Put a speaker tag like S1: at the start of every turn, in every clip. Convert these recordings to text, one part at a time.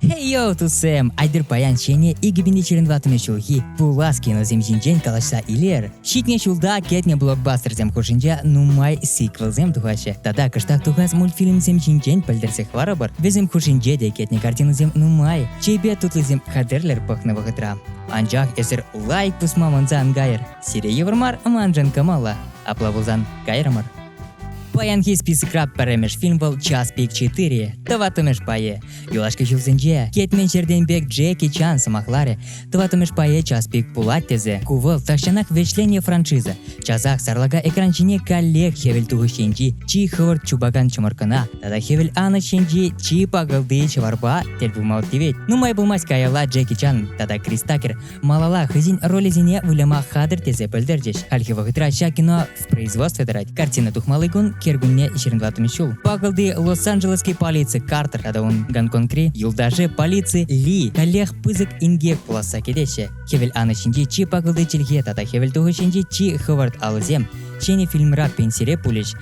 S1: Хей-йоу, туссем! Айтӑр паян ҫӗнӗ 2021 ҫулхи пулас киносем ҫинчен калаҫса илер. Ҫитнӗ ҫулта кӗтнӗ блокбастерсем хушшинче нумай сиквелсем тухаҫҫӗ. Тата кӑштах тухас мультфильмсем ҫинчен пӗлтерсе хӑварӑпӑр. Вӗсем хушшинче те кӗтнӗ картинӑсем нумай. Чейпе тутлисем хатӗрлер пӑхнӑ вӑхӑтра. Анчах эсир лайк тусма манса ан кайӑр. Сире йывӑр мар маншӑн кӑмӑллӑ. Апла пулсан, кайрӑмӑр. Паянхи списокра пӗрремӗш фильм вӑл Час пик 4, тӑваттӑмӗш пайӗ. Юлашки ҫулсенче кӗтмен ҫӗртен пек Джеки Чан сӑмахларӗ, тӑваттӑмӗш пайе час пик пулать тесе. Ку вӑл тахҫанах вӗҫленнӗ франшиза. Часах сарлака экран ҫине каллех хӗвел тухӑҫ енчи чи хӑвӑрт чупакан чӑмӑркӑна тата хӗвел анӑҫ енчи чи пакӑлти ҫӑварпа тӗл пулма тивет. Нумай пулмасть каялла Джеки Чан тата Крис Такер Малала хӑйсен ролӗсене выляма хатӗр тесе пӗлтерчӗҫ. Хальхи вӑхӑтра ҫак кино в производстве тӑрать. Картина тухмалли кун кӗркунне 25 ҫул. Пакӑлти Лос-Анджелесский полици Картер тата ун Гонконгри юлташӗ полици Ли каллех пысӑк инкек пуласса кӗтеҫҫӗ. Хӗвел анӑ ҫинчи чи пакӑлти чӗлхе тата хӗвел тухӑҫӗнчи чи хӑвӑрт алӑсем ҫӗнӗ фильмра пенсире пулӗҫ.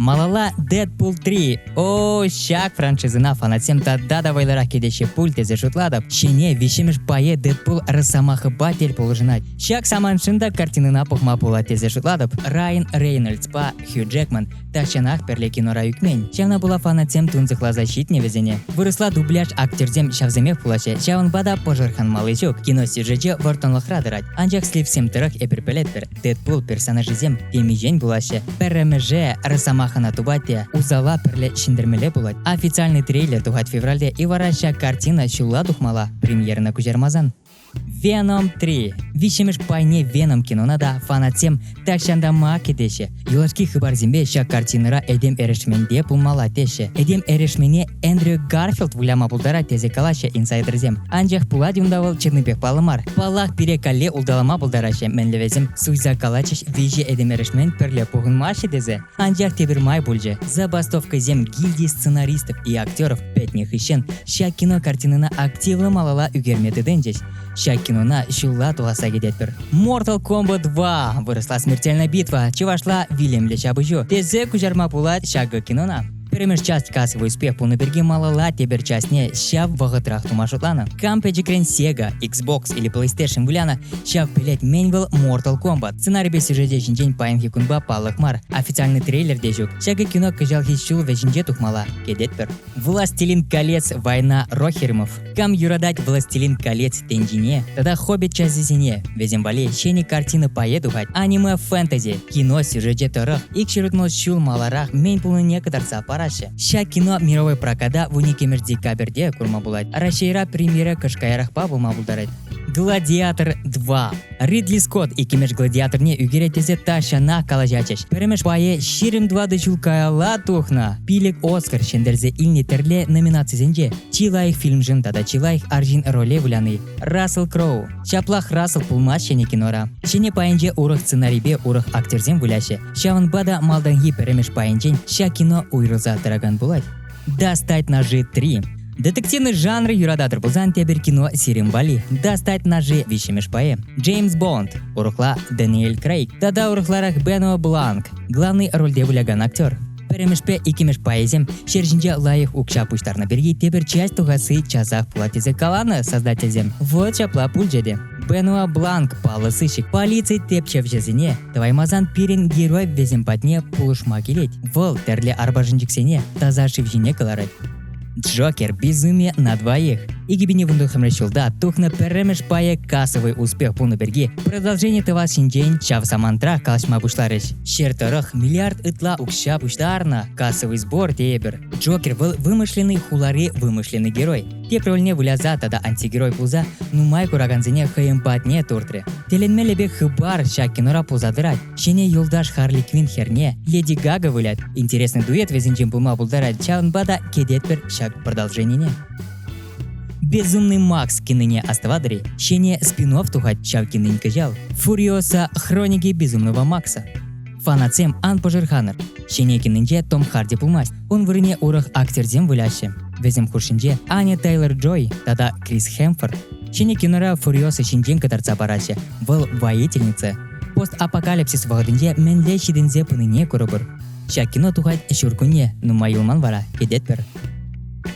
S2: Малала
S1: Deadpool 3. О, ҫак франшизӑна фанатсем тата та вӑйлӑрах кӗтеҫҫӗ пуль тесе шутлатӑп. Ҫӗнӗ виҫҫӗмӗш пайе Deadpool росомахӑпа тӗл пулӑшӑнать. Ҫак саманшӑн та картинӑна пӑхма пулать тесе шутлатӑп. Райан Рейнольдспа Хью Джекман тахҫанах пӗрле кинора ӳкмен. Ҫавна пула фанатсем тунсӑхласа ҫитнӗ вӗсене. Вырӑсла дубляж актерсем ҫавсемех пулаҫҫӗ, ҫавӑнпа та пӑшӑрханмалли ҫук. Киносюжечӗ вӑрттӑнлӑхра тӑрать. Анчах слипсем тӑрӑх эпир пӗлетпӗр, Дэдпул персонажӗсем темиҫен пулаҫҫӗ. Пӗрремӗше Росомахана тупать те усала пӗрле ҫӗнтермелле пулать. Официальный трейлер тухать февральте и вара ҫак картина ҫулла тухмалла. Премьерӑна куҫармасан. Venom 3 виҫҫӗмӗш пайне Venom кинона та фанатсем тахҫантанпа кӗтеҫҫӗ. Юлашки хыпарсемпе ҫак картинӑра этем эрешменпе пулмалла теҫҫӗ. Этем эрешмене Эндрю Гарфилд выляма пултарать тесе калаҫҫӗ инсайдерсем. Анчах пулать унта вӑл чӑннипех паллӑ мар. Паллах, пире калле улталама пултараҫҫӗ мӗнле вӗсем. Суйса калатчӗҫ виҫӗ этемешмен пӗрле пухӑнмаҫҫӗ тесе. Анчах тепӗр май пулчӗ. Забастовкӑсем гильди сценаристов и актеров пӗтнӗ хыҫҫӑн ҫак кино картинӑна активлӑ малалла ӳкерме тытӑнчӗҫ. Ҫак кинона ҫулла тухасса кӗтетпӗр. Mortal Kombat 2 вырӑсла смертельная битва чӑвашла вилӗмлӗ ҫапӑҫу тесе куҫарма пулать ҫакӑ кинона. Пӗрремӗш часть кассовый успех пулнӑ пирки малалла тепӗр частьне ҫав вӑхӑтрах тума шутланӑ. Компьютеркрен Sega, Xbox или PlayStation выляна ҫав пӗлет мӗн вӑл Mortal Kombat. Сценарипе сюжете ҫинчен паянхи кунпа паллах мар. Официальный трейлер те ҫук. Ҫакӑ кино кӑҫалхи ҫул вӗҫӗнче тухмалла, кӗтетпӗр. Властелин колец, война Рохеримов. Кам юратать «Властелин колец» тӗнчине тата «Хоббит» часӗсене, вӗсем валли ҫӗнӗ картина пае тухать, аниме-фэнтези, кино сюжечӗ тӑрӑх ик ҫырӑкнӑ ҫул маларах мӗн пулнине кӑтартса параҫҫӗ. Ҫак кино мировой проката в уникӗмӗр декабрьте курма пулать. Раҫҫейра премьера кӑш каярахпа пулма пултарать. Гладиатор 2 Ридли Скотт иккӗмеш гладиаторне ӳкерет тесе тахҫанах калаҫатчӗҫ. Пӗрремӗш пайе ҫирӗм тӑватӑ ҫул каялла тухнӑ. Пилӗк Оскар ҫӗнтерсе илнӗ тӗрле номинацисенче чи лайӑх фильмшӑн тата чи лайӑх арҫын роле выляни. Рассел Кроу. Ҫаплах Рассел пулмасть ҫӗнӗ кинора. Ҫӗнӗ пайӗнче урӑх сценарипе урӑх актерсем выляҫҫӗ. Ҫавӑнпа та малтанхи пӗрремӗш пайӗнчен ҫак кино уйрӑлса тӑракан пулать. Достать ножи 3. Детективный жанр юрататӑр пулсан тепӗр кино Сирим Вали. Достать ножи виҫҫӗмӗш пайӗ. Джеймс Бонд, урӑхла Дэниэль Крейг тата урӑхларах Бено Бланк. Главный рольте вылякан актер. Пӗрремӗшпе иккӗмӗш пайӗсем ҫӗр ҫинче лайӑх укҫа пуҫтарнӑ пирки тепӗр часть тухасси часах пулать тесе каланӑ создательсем. Вот ҫапла пулчӗ те. Бенуа Бланк паллӑ сыщик полици тепчевҫӗсене тӑваймасан пирӗн герой вӗсем патне пулӑшма килет. Вӑл тӗрлӗ арпашӑнчӑксене таса шыв ҫине кӑларать. Джокер безумие на двоих. 2019 ҫулта тухнӑ пӗрремӗш пайӗ кассовый успех пулнӑ пирки продолжение тӑвас ҫинчен ҫав самантра калаҫма пуҫларӗҫ. Ҫыр тӑрӑх миллиард ытла укҫа пуҫтарнӑ кассовый сбор тейӗпӗр. Джокер вӑл вымышленный хулари вымышленный герой. тепӗр рольне выляса тата антигерой пулса нумай куракансене хӑйӗн патне туртрӗ. Тӗлӗнмелле пек хыпар ҫак кинора пулса тӑрать. Ҫӗнӗ юлташ Харли Квин херне Леди Гага вылять. Интересный дуэт вӗсенчен пулма пултарать, ҫавӑнпа та кӗтетпӗр ҫак продолженине. Безумный Макс кинине оставатори ҫӗнӗ спин тухать ҫав кинин кӑҫал Фурiosa хроники безумного Макса. Фанатсем ан пӑшӑрханӑр. Ҫенекинӗнче Том Харди пулмасть. Ун вырӑнне урӑх актерсем выляҫҫӗ. Вӗсем хушшинче Аня Тейлор Джой тата Крис Хемфорд. Ҫенекинӑра фуриоса ҫинчен кӑтартса параҫҫӗ. Вӑл воительница. Постапокалипсис вӑхӑтӗнче мӗнле ҫитӗнсе пынине курӑпӑр. Ҫак кино тухать ҫуркунне, нумай юлман вара, кӗтетпӗр.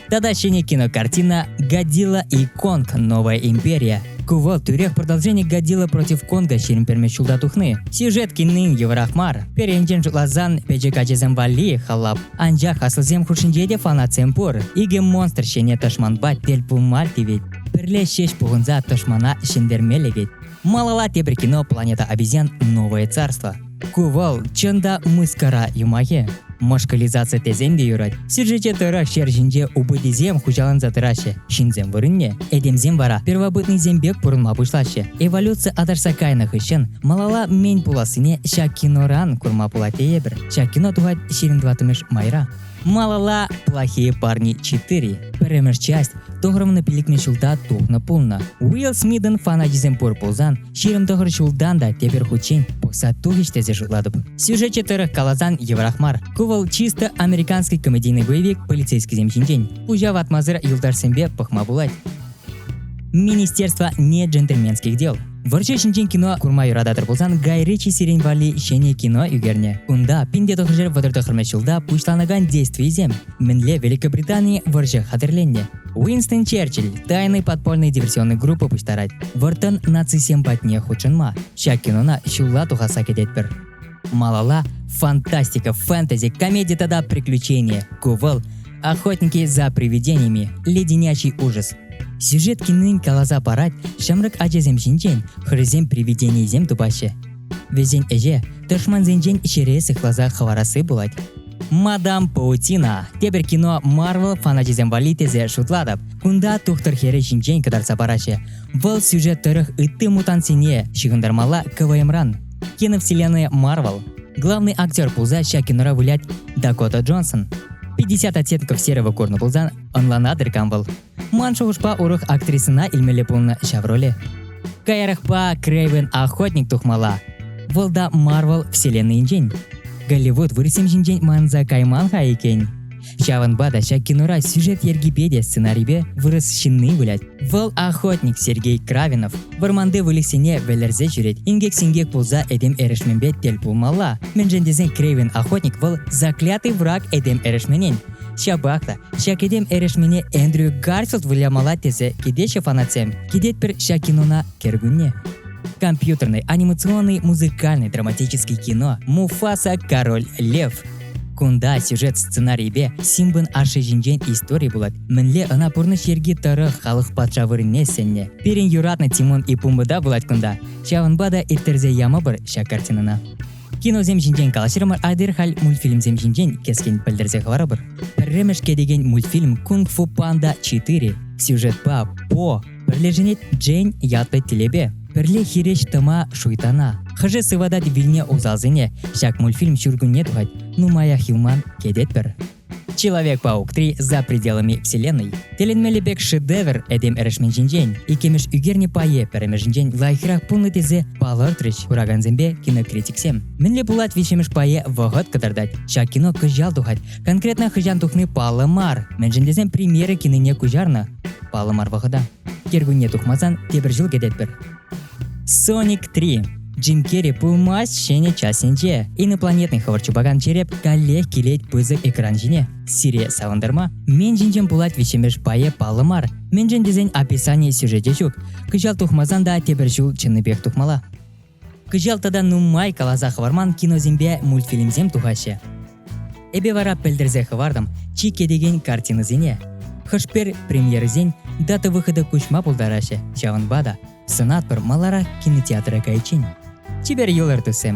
S1: Тата ҫӗнӗ кинокартина «Годзилла и Конг. Новая империя». Ку вӑл тӳрех продолжение Годзилла против Конга ҫирӗм перме ҫулта тухни. Сюжет киннин йывӑрах мар. Перенчен шутласан, пӗчӗк ачасем валли халап. Анчах аслисем хушшинче те фанатсем пур. Икӗ монстр ҫине тӑшманпа тӗл пулма тивет. Пӗрле ҫеҫ пухӑнса тӑшмана ҫӗнтерме лекет. Малала тепӗр кино «Планета обезьян. Новое царство». Ку вӑл, чӑн та, мыскара юмахӗ. Мӑшкӑлизаци тесен те юрать. Сюжете тӑрӑх ҫер ҫинче убытисем хуҫаланса тӑраҫҫӗ, ҫынсем вырӑнне, этемсем вара первобытнӑйсем пек пурӑнма пуҫлаҫҫӗ. Эволюци аташса кайнӑ хыҫҫӑн малала мӗн пулассине ҫак киноран курма пулать тейӗпӗр. Ҫак кино тухать ҫирӗм тӑваттӑмӗш майра. Малалла «Плохие парни 4». Пӗрремӗш часть тӑхӑрмӑн пилӗкмӗш ҫулта тухнӑ пулнӑ. Уилл Смитӑн фанатисем пур пулсан, ҫирӗм тӑхӑр ҫултан та тепӗр хутчен пӑхса тухӗҫ тесе шутлатӑп. Сюжечӗ тӑрӑх каласан йывӑрах мар. Ку вӑл чисто американский комедийный боевик полицейскисем ҫинчен. Пуҫа ватмасӑр юлташсемпе пӑхма пулать. Министерство не джентльменских дел Вӑрҫӑ ҫинчен кино курма юрататӑр пулсан Гай Ричи сирен валли ҫӗнӗ кино ӳкернӗ. Унта пинте тухӑҫӑр вӑтӑртӑхӑрмӗш ҫулта пуҫланакан действийӗсем мӗнле Великобритани вӑрҫӑ хатӗрленнӗ. Уинстон Черчилль тайный подпольный диверсионный группа пуҫтарать. Вӑрттӑн нацисем патне хутшӑнма ҫак кинона ҫулла тухасса кӗтетпӗр. Малала фантастика, фэнтези, комедия тата приключения. Кувал Охотники за привидениями, Леденячий ужас. Сюжет кинин каласа парать ҫамрӑк ачасем ҫинчен хӑрисем привиденийӗсем тупаҫҫӗ. Вӗсен ӗҫе тӑшмансенчен ҫӗре сыхласа хӑварасси пулать. Мадам Паутина тепӗр кино Марвел фаначӗсем валли тесе шутлатӑп. Кунта тухтӑр хӗрӗ ҫинчен кӑтартса параҫҫӗ. Вӑл сюжет тӑрӑх ытти мутантсене ҫыхӑнтармалла КВМран. киновселенная Марвел, главный актер пулса ҫак кинора вылять Дакота Джонсон. 50 оттенков серого корна пулсан ӑнлана тыркам вӑл. Ман шухӑшпа урӑх актрисӑна илмелле пулнӑ ҫав роле. Каярахпа Крейвен охотник тухмалла. Вӑл да Марвел вселеннийӗнчен. Голливуд вырӑсем ҫинчен манса кайман-ха иккен. Ҫавӑнпа та ҫак кинора сюжет йӗркипе те сценарипе вырӑс ҫынни вылять. Вӑл охотник Сергей Кравинов вӑрманти выльӑхсене вӗлерсе ҫӳрет. Инкек-синкек пулса этем эрешменпе тӗл пулмалла. Мӗншӗн тесен Крейвен охотник вӑл заклятый враг этем эрешменен. Ҫапах та ҫак этем эрешмене Эндрю Гарфилд вылямалла тесе кӗтеҫҫӗ фанатсем. Кӗтетпӗр ҫак кинона кӗркунне. Компьютерный, анимационный, музыкальный, драматический кино Муфаса Король Лев Кунта сюжет сценарийӗпе Симбӑн ашшӗ ҫинчен истори пулать. Мӗнле ӑна пурнӑҫ йӗрки тӑрӑх халӑх патша вырӑнне сӗннӗ. Пирӗн юратнӑ Тимун и Пумбада пулать кунта. Ҫавӑнпа та ирттерсе ямӑпӑр ҫак картинӑна. Киносем ҫинчен калаҫрӑмӑр, атьӑр халь мультфильмсем ҫинчен кӗскен пӗлтерсе хӑварӑпӑр. Пӗрремӗш кӗтекен мультфильм Кунг-фу панда 4 сюжетпа по Пӗрлешӗнет Джейн ятлӑ телепе. Пӗрле хирӗҫ тӑма шуйтана. Хӑшӗ сыватать вилнӗ усалсене. Ҫак мультфильм ҫуркунне тухать. Нумаях юлман кӗтетпӗр. Человек-паук-3 за пределами вселенной. Тӗлӗнмелле пек шедевр этем эрешмен ҫинчен, иккӗмӗш ӳкернӗ пайе пӗрремӗшӗнчен лайӑхрах пулнӑ тесе палӑртрӗҫ куракансемпе кинокритиксем. Мӗнле пулать виҫҫӗмӗш пайе вӑхӑт кӑтартать. Ҫак кино кӑҫал тухать. Конкретно хӑҫан тухни паллӑ мар, мӗншӗн тесен премьера кинине куҫарнӑ паллӑ мар вӑхӑта. Кӗркунне тухмасан тепӗр ҫул кӗтетпӗр. Sonic 3 Джим Керри пулмасть ҫӗнӗ частӗнче. Инопланетный хӑвӑрт чупакан череп каллех килет пысӑк экран ҫине. Сире савӑнтарма мен ҫинчен пулать виҫҫӗмӗш пайӗ паллӑ мар. Мӗншӗн тесен описани сюжечӗ ҫук. Кӑҫал тухмасан та тепӗр ҫул чӑннипех тухмалла. Кӑҫал тата нумай каласа хӑварман киносемпе мультфильмсем тухаҫҫӗ. Эпе вара пӗлтерсе хӑвартӑм чи кӗтекен картинӑсене. Хӑшпер премьерӑсен дата выхода куҫма пултараҫҫӗ, ҫавӑнпа та сӑнатпӑр маларах кинотеатра кайиччен. Чипер юлӑр, туссем!